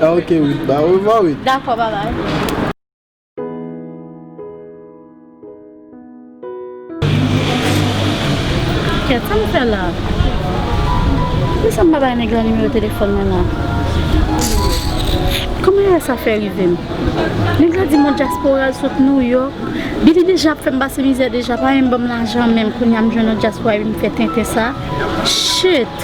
Ah ok Wid, ba orevwa Wid. Dakò babay. Kèt, sa m fè la? Poukisa m pa bay nèg la nimewo telefòn mwen la? Kòman erè sa fè rive m? Nèg la di m yon dyaspora l sot Nouyòk. Billy deja ap fè m pase mizè deja, pa menm ban m lajan menm, kounye a m jwenn yon dyaspora vin fè tenten sa? Shit!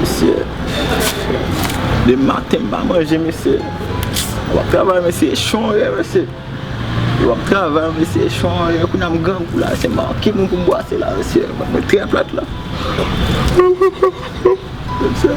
Mesye De maten m pa manje mesye Mwen ap travay mesye Echon an ye mesye Mwen ap travay mesye Echon an ye Kounye a m grangou la Se manke moun pou m bwase la mesye Mwen trè plat la Mesye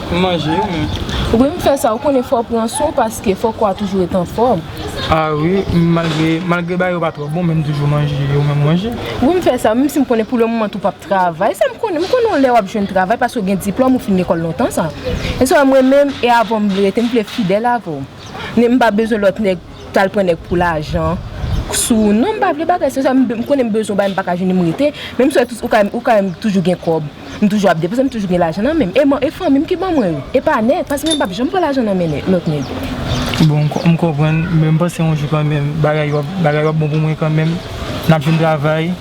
manje yo men. Ou menm fè sa ou konnen fò pran swen paske fò kò a toujou ret anfòm. A wi malgre malgre bagay yo pa twò bon men m toujou manje yo men manje. Ou menm fè sa menm si m konnen pou le moman tou pap travay sa m konnen m konnen yon lè wap jwenn travay paske ou gen diplòm ou fin lekòl lontan sa. Men se wè mwen menm e avè w m vle rete m vle fidèl avè w. Ni m pa bezwen lòt nèg. Tal pran nèg pou lajan sou ou non m pa vle bagay sa m konnen m bezwen w bagay m paka jwenn m rete men m swè ou ka wè m toujou gen kòb m toujou ap depanse m toujou gen lajan nan menm e fanmi m ki ban mwen yo e pa nèg paske nèg pap janm pran lajan nan men lòt nèg. Bon m konprann men m panse yon jou kanmenm bagay yo ap bon pou mwen kanmenm nap jwenn travay.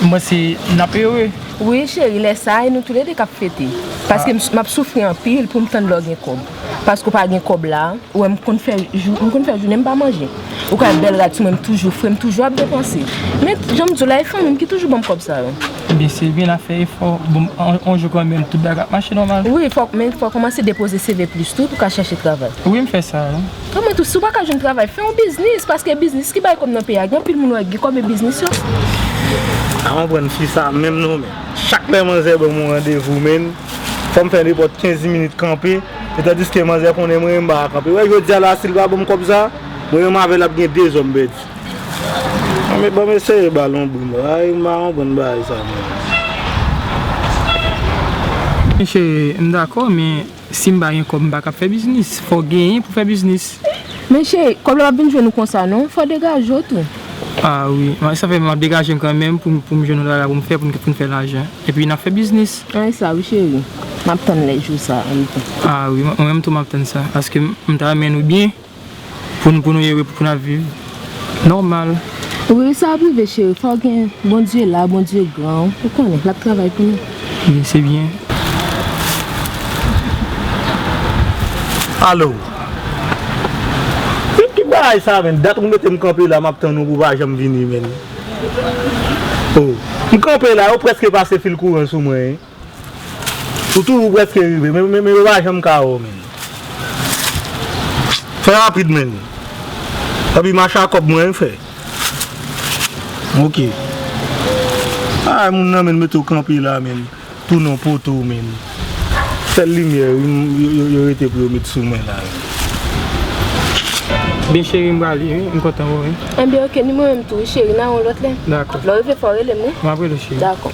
Mwen se nap ere. Wi cheri lè sa e nou tou le 2 kap fete paske map soufri anpil poum tann lè w gen kòb paske w pa gen kòb la ou wè m konn fè jounen m pa manje ou ka wè bèl rad sou mwen m toujou fre m toujou ap depanse men janm di w la e fanmi m ki toujou ban m kòb sa yo. Ebyen Sylvie na fè efò bon on jou kanmenm tout bagay ap mache nòmal. Wi men fòw kòmanse depoze CV plis tou pou ka chache travay. Wi m fè sa. Kòman tou si w pa ka jwenn travay fè yon biznis paske biznis ki bay kòb nan peyi a gen anpil moun wè ki gen kòb e biznis yo Mpa konprann fi sa menm non men chak lè manzè banm yon randevou menn fòm fè nenpòt 15 minit kanpe e tandiske manzè konnen mwen menm mpaka kanpe wè jodia la sil pa banm kòb sa mwen menm avèl ap gen 2 zò mpèdi anmweyy banm eseye bal yon brin ayy mpa konprann bagay sa menm. Mesye mdakò men Sim pa gen kob m pa kap fè biznis fok genyen pou fè biznis. Men cheri kob la pap vin jwenn ou konsa non fò degaje w tou. Ah wi man sa fè map degajem kanmenm poum jwenn yon travay poum fè poun fè lajan epi nap fè biznis. Ah esa wi cheri map tann lè jou sa an wi tou. Ah wi mwen menm tou map tann sa paske m ta renmen nou byen. Pou nou pou nou ye wi pou nap viv normal. Wi sa ap rive cheri fò gen bondye la bondye gran ou konnen lap travay pou nou. Wi se byen. Allo Menm ki bagay sa menm dat ou metem kanpe la map tann ou ou pa janm vini menm oh m kanpe la yo preske pase fil kouran sou mwen. Ou toujou preske rive men yo pa janm ka wè w menn. Fè rapid menn. Epi mach a kòb mwen fè. Ok. Ay moun nan menn mete w kanpe la menn. Tounen w poto w menn. Sèl limyè yo rete pou yo met sou mwen la. Byen cheri m pral ye wi. M kontan wè w wi. Enben ok ni mwen menm tou wi cheri. Nan yon lòt lè. Dakò. Lè w rive fè w rele m wi. M ap rele w cheri. Dakò.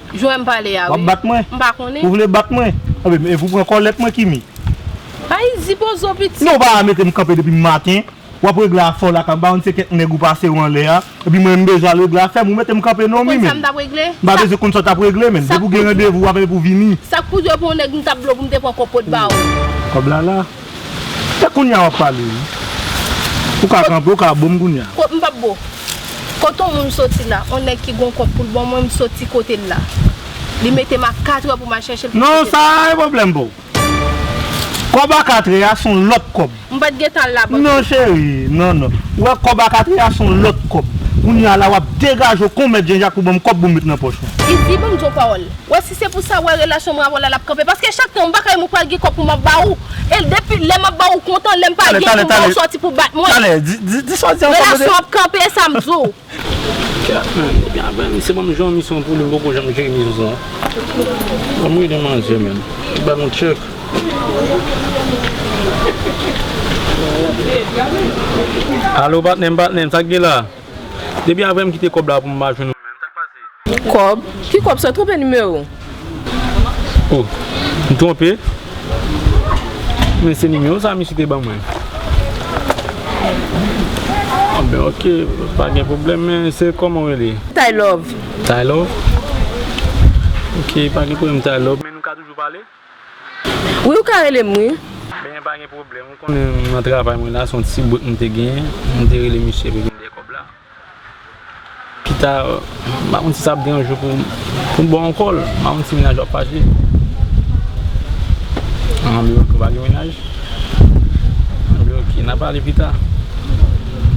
Jwè m pale a wi. Wap bat mwen? M pa konnen. Ou vle bat mwen? Anbe m ev ou pran kòlèt mwen Kimi? Ay di bozo pitit. Non ou pa mete m kanpe depi maten, wap regle afè w la kap ba m se kèk nèg ou pase ou anlè a, epi mwen m bezwen al regle afè m, ou mete m kanpe non Mimi. Ou konn sa m tap regle? M pa bezwen konn sa w tap regle menn, depi w gen randevou wap ev ou vini. Sak pou dwe pou yon nèg m tap vle w pou m te pran kòb pou t ba ou. Kòb la la. Se kounya wap pale wi. Ou ka kanpe ou ka boom kounya. Kot m pap bo. Kot on moun soti la, on nèg ki gon kont poul bon mwen m soti kote l la. Li mete m a 4 è pou m al chèche l pou m soti. Non sa a e pwoblèm pou w. Kòb a 4 è a s on lòt kòb. M pat gen tan al labank non. Non cheri, non non. Ou wè kòb a 4 è a s on lòt kòb. Kounya la wap degaje w kon mèt Jen Jak pou banm kòb pou m met nan pòch mwen. Izi banm di w pawòl. Si se pou sa wè relasyon mwen avèw la lap kanpe paske chak tan mpa kay mwen pral gen kòb pou map ba ou e depi lè map ba ou kontan lèm pa gen pou mba ou sòti pou bat mwen relasyon ap kanpe esa mdiw. Depi aprè m kite kòb la pou m pa jwenn ou menm, sa k pase? Kòb? Ki kòb sa? Twonpe nimewo. O, m twonpe. Men se nimewo sa misye te ban mwen. O ben ok, pa gen pwoblèm men se kòman ou rele? Taylove. Taylove? Ok, pa gen pwoblèm Taylove. Men nou ka toujou pale? Wi ou ka relem wi. Benyen pa gen pwoblèm ou konnen m nan travay mwen la son ti break m te genyen m te rele misye epi vin de kòb la pita m pa konn si sa ap gen yon jou pou m ba w ankò l m pa konn si mennaj w ap fache an m ok ou pa gen mennaj m di ok n ap pale pita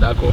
dakò.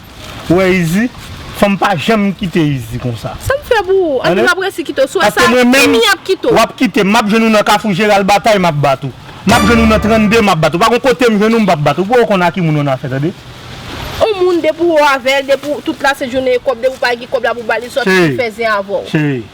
Ou wè izi fòm pa janm kite izi konsa. Sam fè pou ou annik map resi kite w sou wè sa kimi ap kite w. Wap kite m map jwenn ou nan kafou jeral batay map bat ou map jwenn ou nan 32 map bat ou pa gon kotem jwenn ou m pap bat ou pouw konn a ki moun w nan afè tande. On moun depi ou avèl depi tout la se jounen e kòb depi ou pa gen kòb la pou bali sòti pou fè zen avèw. Cheri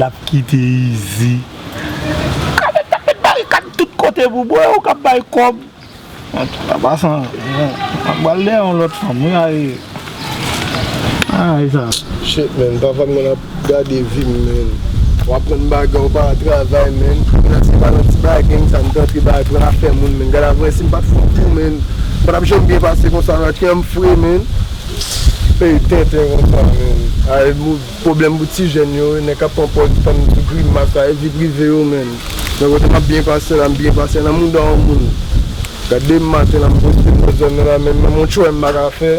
Lap kite izi. Cadet tap met barikad tout kote pou bwe ou kap bay kob. Antouka pasan ap bal dèyè yon lot fanm wi ayy. Shit man pa fanm nan ap. Gade vim menn ou aprann bagay ou pa travay menn kounya se pa nan ti bagay konsa nou t antre bay pran afè moun menn gad avwe sim pat fout tou menn m patap janm byen pase konsa nan kèm m fre menn ey tenten konsa menn ay pwoblèm pou ti jèn yo nèg kap pran pòz tann pou grimas sa e vi prive yo menn men kote map byen pase la m byen pase nan mouda yon moun gade m maten la m poste m nan zòn nan la menn menm yon tchwè m paka fè.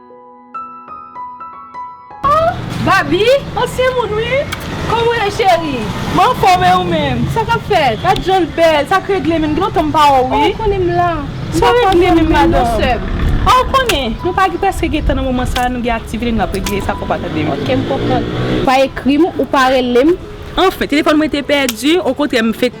Ohh Baby ansyen moun wi Kòman w ye cheri Mwen anfòm e ou menm Sa kap fèt Gad jan l bèl Sa k regle menm Gen lontan m pa wè w wi Ou konnen m la Sa regle menm madanm A ou konnen Nou pa gen prèske gen tan nan moman sa Nou gen aktivite nou ap regle Sa fò w pa tande m Ok m konprann Ou pa ekri m Ou pa rele m Anfen telefòn mwen te pèdi Okontrè m fenk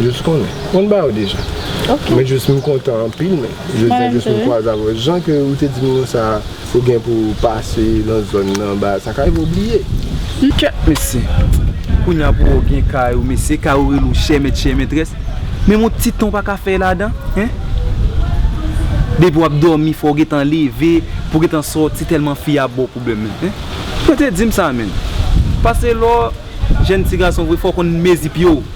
Jus konnen. Mwen ba ou deja. Ok. Mwen jus m kontan anpil men. Mwen menm tou. Jodi a jus m kwaze avè w. Jan ke ou te di m non sa a, ou gen pou ou pase nan zòn nan ba sa ka rive ou bliye. Humm kèt mesye. Kounya pou ou gen kay ou mesye, kay ou rele ou chè mèt chè mètrès. Menm yon ti tan ou pa ka fè ladan hein. Depi w ap dòmi fò w gen tan leve pou w gen tan sòti tèlman fi a ap ba w pwoblèm menm hein. Yo te di m sa menm. Pase lè w jèn ti gason vre fò w konn mezi pye w.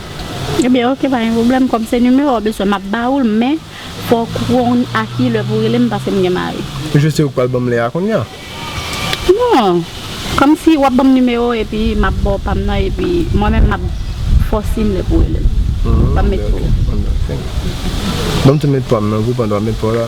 Ebyen ok pa gen pwoblèm kòm se nimewo w bezwen map ba ou l men fò w konn a ki lè pou w rele m paske m gen mari. Jus se ou k pral banm lè a kounya. Non kòm si wap banm nimewo w epi map ba w pa m nan epi mwen menm map fò w si m lè pou w rele m. Banm met pou w la. Banm tou met pa m nan tou pandan wap met pa w la.